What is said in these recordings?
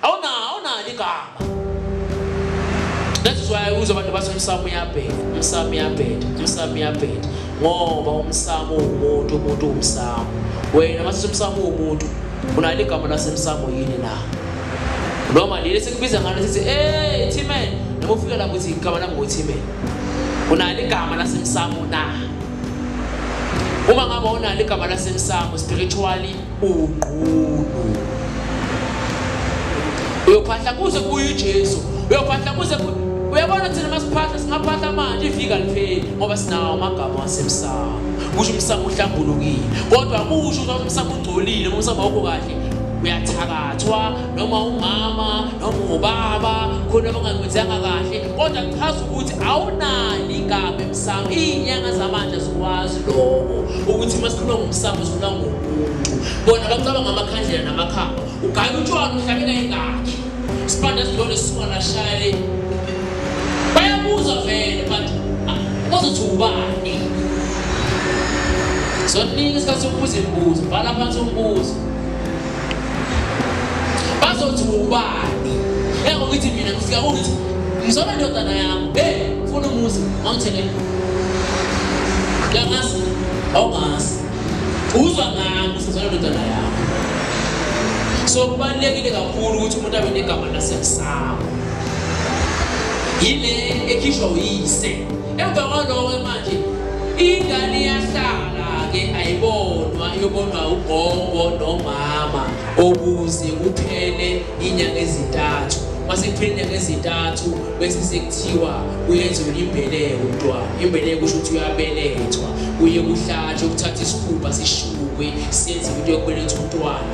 Awuna awunalo igama. That's why uzwa abantu bathi umsamo uyabheda, umsamo uyabheda, umsamo uyabheda. Ngoba umsamo umuntu, umuntu umsamo. Wena mase umsamo umuntu, unalo igama lasemsamo yini na? Noma leli sekubiza ngalo sithi, "Hey, Timen, noma ufika lapho uthi igama lami nguTimen." Unalo igama lasemsamo na? Uma ngabe unalo igama lasemsamo spiritually unqunu uyophahla kuze kuye uJesu uyophahla kuze uyabona thina masiphahla singaphahla manje ifika lipheli ngoba sinawo amagama wasemsamo kusho umsamo uhlambulukile kodwa kusho ukuthi umsamo ungcolile ngoba umsamo awukho kahle uyathakathwa noma umama noma ubaba khona abangakwenzanga kahle kodwa kuchaza ukuthi awunani igama Sawo izinyanga zamanje zikwazi lokho ukuthi masikhuluma ngomsamo sikhuluma ngomuntu. Bona bacabanga amakhandlela namakhamba. Ugaya utshwala uhlabela ingakhi. Sibanda sidlole sisona shayele. Bayabuza vele but bazothi ah, ubani. Sonika isikhathi sokubuza imibuzo, bhala phansi umbuzo. bazothi ubani engokuthi mina ngifika ukuthi ngizona ndodana yami hey funa umuzi awuthele yangazi awungazi uzwa ngami usizona ndodana yami so kubalulekile kakhulu ukuthi umuntu abe negama lasemsamo yile ekhishwa uyise Emva kwaloko manje ingane iyahlala-ke ayibonwa iyobonwa ugogo nomama okuze kuphele inyanga ezintathu mase kuphele inyanga ezintathu bese sekuthiwa kuyenziwa imbeleko umntwana imbeleko kusho ukuthi uyabelethwa kuye kuhlatshwe kuthatha isikhumba sishukwe senziwe into yokubelethwa umntwana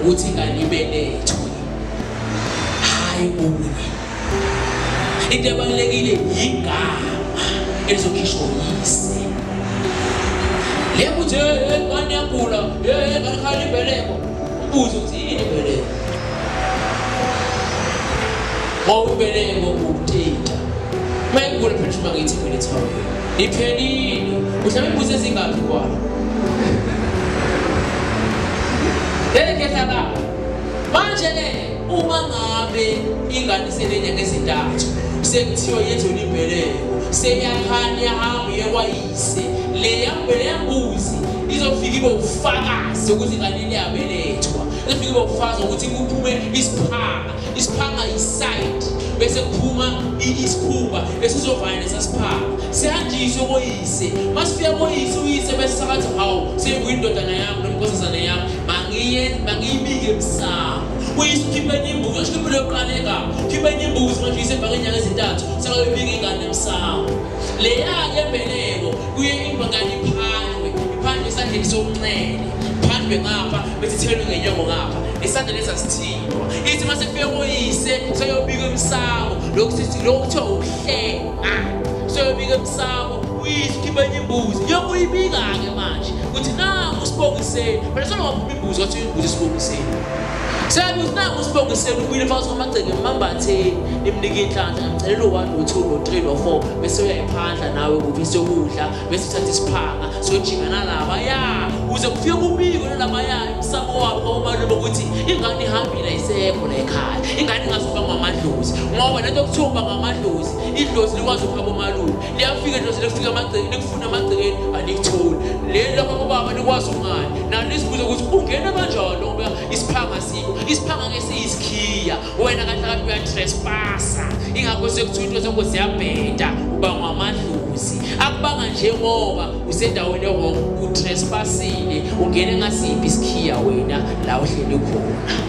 ukuthi ingane ibeletho hayi okunye into ebalulekile yigama elizokhishwa uyise le kuthi ngane yagula ngakhala imbeleko ubuze ukuthi yini imbeleko ngoba imbeleko ukuthinta uma igula phela uma ngithi imbelethawuyo Iphelile. Uhlaba imbuzi ezingaphi kwayo? Lele ngehla la. Manje ke uma ngabe ingane iselenya ngezintathu sekuthiwa yenze ulibheleko seyakhanya yahamba yekwayise le yambele yambuzi izofika ibe ufakazi ukuthi kanini yabelethwa izofika ibe ufakazi ukuthi kuphume isiphanga isiphanga yiside bese kuphuma isikhumba esizovana nesasiphanga sihanjiswe koyise masifika koyise uyise bese sakathi hawu senguye indodana yami nomkhosazane yami mangiye mangiyibike emsamo uyise ukhiphe enye imbuzi ngasho impilo yokuqala egama khiphe enye imbuzi manje uyise ebhake inyanga ezintathu sakayobika ingane emsamo leya-ke mbeleko kuye ingane iphandwe iphandwe esandleni sokunxele phandwe ngapha bese ithelwe ngenyongo ngapha esandleni esasithile ithi uma sekufike koyise seyobika emsamo lokhu sithi lokhu kuthiwa ukuhlenga seyobika emsamo uyise ukhipha enye imbuzi yokuyibika-ke manje ukuthi nangu usibongiseni phela sona waphuma imbuzi wathi imbuzi isibongiseni seyabuthi nangu usibongiseni ubuyile phakathi kwamagceke emambatheni nimnike inhlanhla ngimcelela u-one no-two no-three no-four bese uyayiphandla nawe kuphi seyokudla bese uthatha isiphanga siyojika nalaba ya uze kufike kubiko nalaba ya umsamo wabo kwakubalule bokuthi ingane ihambile ayisekho la ekhaya ingane ingazoba ngamadlozi ngoba lento okuthiwa uba ngamadlozi idlozi likwazi ukuhamba omalume liyafika idlozi likufika amagcekeni likufuna amagcekeni alikutholi leli lakho kubaba likwazi ungani nalo lisibuze ukuthi ungene kanjani ngoba isiphanga sikho isiphanga ngesiyisikhiya wena kahle kahle uyatrespasa ingakho sekuthiwa into zakho ziyabheda uba ngamadlozi akubanga nje ngoba usendaweni ewrong utrespasile ungene ngasiphi isikhiya wena la uhleli khona